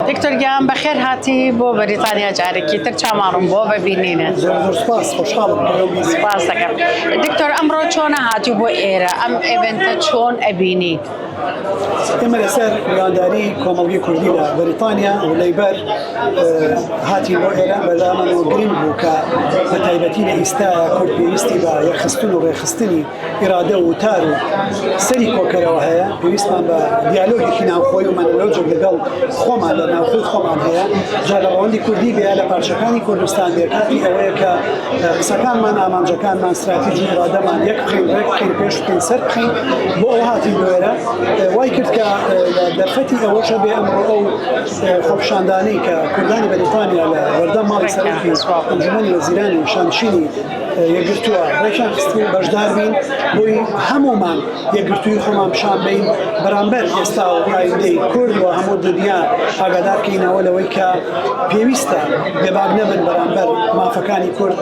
دکتۆر گیان بەخێر هاتی بۆ بەریتانیا جارێکی تر چامان ڕوون بۆ بەبینینە سپاس خۆشحاڵم سپاس دەکەم دکتۆر ئەمڕۆ چۆنە هاتی بۆ ئێرە ئەم ئێڤنتە چۆن ئەبینی ئێمە لەسەر میوانداری کۆمەڵگی کوردی لە بەریتانیا و لەیبەر هاتی بۆ ئێرە بەلامەوە گرنگ بوو کە بە تایبەتی لە ئیستا کورد پێویستی بە یەخستن و ڕێخستنی ئیرادە و وتار و سەری کۆکەرەوە هەیە پێویستمان بە دیالۆگێکی ناوخۆی و مەنەلۆجێک لەگەڵ خۆمان لە ناوخۆی خۆمان هەیە جا لە ڕەوەندی کوردی بێ لە پارچەکانی کوردستان بێ کاتی ئەوەیە کە قسەکانمان ئامانجەکانمان استراتیژی ئیرادەمان یەک بخین ڕێک بخین پێش بخین سەر بخین بۆ ئەو هاتی دوێرە وای کرد کە دەرفەتی ئەوەشە بێ ئەمڕۆ ئەو خۆپشاندانەی کە کوردانی بەریتانیا لە وەردە ماڵی سەرکی ئەنجومەنی وەزیرانی شانشینی یەکگرتووە ڕێکیان خستبووین بەشدار بین بۆی هەمومان یەکگرتووی خۆمان پیشان بین بەرامبەر ئێستا و ئایندەی کورد و هەموو دنیا ئاگادار کەینەوە لەوەی کە پێویستە بێباک نەبن بەرامبەر مافەکانی کورد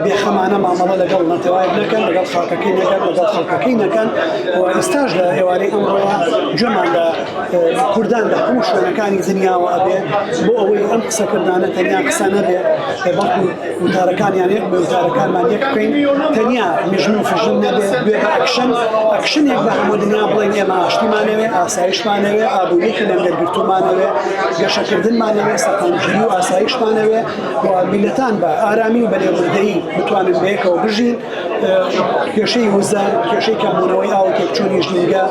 بێخەمانە مامەڵە لەگەڵ نەتەوایەک نەکەن لەگەڵ خاکەکەی نەکەن لەگەڵ خەڵکەکەی نەکەن و ئێستاش لە ئێوارەی ئەمڕۆوە جۆمان لە کوردان لە هەموو شوێنەکانی دنیاوە ئەبێ بۆ ئەوەی ئەم قسەکردانە تەنیا قسە نەبێ بەڵکو وتارەکانیان یەک بێ وتارەکانمان یەک بکەین تەنیا مژن و فژن نەبێت بێ بە ئەکشن ئەکشنێک بە هەموو دنیا بڵێن ئێمە ئاشتیمانەوێ ئاسایشمانەوێ ئابووری خلێن دەرگرتومانەوێ گەشەکردنمانەوێ سەقامگیری و ئاسایشمانەوێ و میلەتان بە ئارامی و بەلێبوردەیی بتوانن بەیەکەوە بژین کێشەی وزە کێشەی کەمبوونەوەی ئاو تێکچوونی ژینگە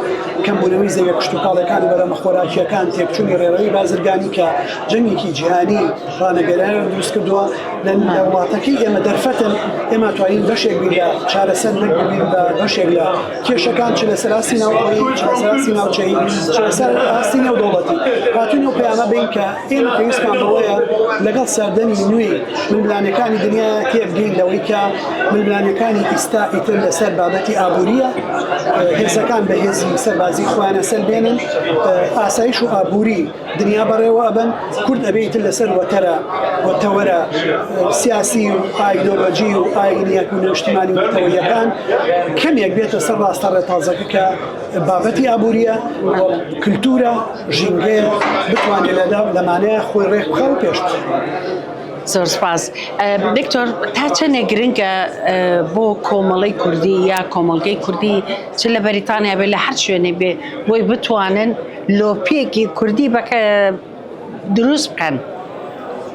کەمبوونەوەی زەویە کشتتوپاڵەکانی بەرەمە خۆراکیەکان تێکچوونی ڕێڕەوی بازرگانی کە جەنگێکی جیهانی ڕانەگەرایەوە دروست کردووە لە وڵاتەکەی ئێمە دەرفەتن ئێمە توانین بەشێک بین لە چارەسەر نەکردین بە بەشێک لە کێشەکان چ لەسەر ئاستی ناوخۆیی چ لەسەر ئاستی ناوچەیی چ لەسەر ئاستی نێودەوڵەتی هاتوین و پەیامە بین کە ئێمە پێویستمان بەوەیە لەگەڵ سەردەمی نوێی ململانەکانی دنیا تێبگەین لەوەی کە ململانەکانی ئیستا ئیتر لەسەر بابەتی ئابووریە هێزەکان بە هێزی سەربازی خۆیانە سەلبێنن ئاسایش و ئابووری دنیا بەڕێوە ئەبەن کورد ئەبێ ئیتر لەسەر وەتەرە و تەوەرە سیاسی و ئایدۆلۆجی و ئاینیەت و نەشتمانی وتەوەیەکان کەمێک بێتە سەر ڕاستە ڕێتازەکە کە بابەتی ئابوووریە کللتورە ژینگەیە بتوانێت لەدا لەمانەیە خۆی ڕێک بخە و پێش. زۆر سپاس دکتۆر تا چەندێک گرنگە بۆ کۆمەڵی کوردی یا کۆمەلگەی کوردی چ لە بەریتانیا بێ لە هەر شوێنێ بێ بۆی بتوانن لۆپێکی کوردی بەکە دروست بکەن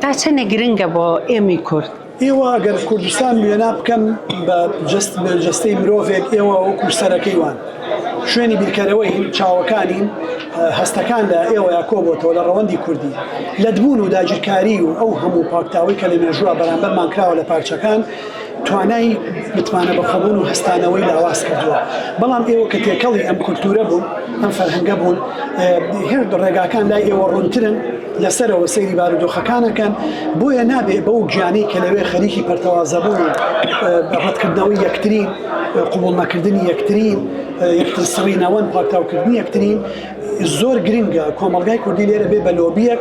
تا چەنێ گرنگە بۆ ئێمەی کورد. ئێوە گەر کوردستان وێنا بکەن بە جەست بە جەستەی مرۆڤێک ئێوە وەکو سەرەکەی وان شوێنی بیرکەرەوەین چاوەکانین هەستەکان لە ئێوەیە کۆ بۆتەوە لە ڕەوەندی کوردی لەدبوون و داگیرکاری و ئەو هەموو پاکتاوەی کە لە مێژووە بەرامبەرمان کراوە لە پارچەکان توانای متمانە بەخۆبوون و هەستانەوەی لاواز کردووە بەڵام ئێوە کە تێکەڵی ئەم کولتورە بوون ئەم فەرهەنگە بوون هێرد ڕێگاکان لای ئێوە ڕوونترن لەسەرەوە سەیری بارودۆخەکانەکەن بۆیە نابێ بەو گیانی کە لەوێ خەریکی پەرتەوازەبوون ڕەتکردنەوەی یەکتری قوبڵ نەکردنی یەکتری یەکتر سڕینەوەن پاکتاوکردنی یەکترین زۆر گرنگە کۆمەلگای کوردی لێرە بێ بە لۆبیەک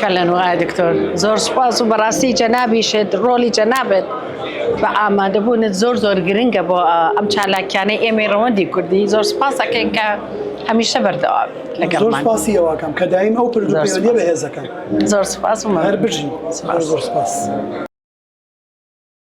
کەلەن و ئای دکتۆر زۆر سوپاس و بەڕاستی جەنابیشت ڕۆلی جەنابێت بە ئامادەبوونت زۆر زۆر گرنگە بۆ ئەم چالاکیانەی ئێمەی ڕەوەندی کوردی زۆر سوپاسەکەین کە هەمیشە بەردەوام لەگەڵ زۆر سوپاسی ئەوەکەم کە دایم ئەو پرد بەهێزەکەم زۆر سوپاس و هەر بژین زۆر سوپاس.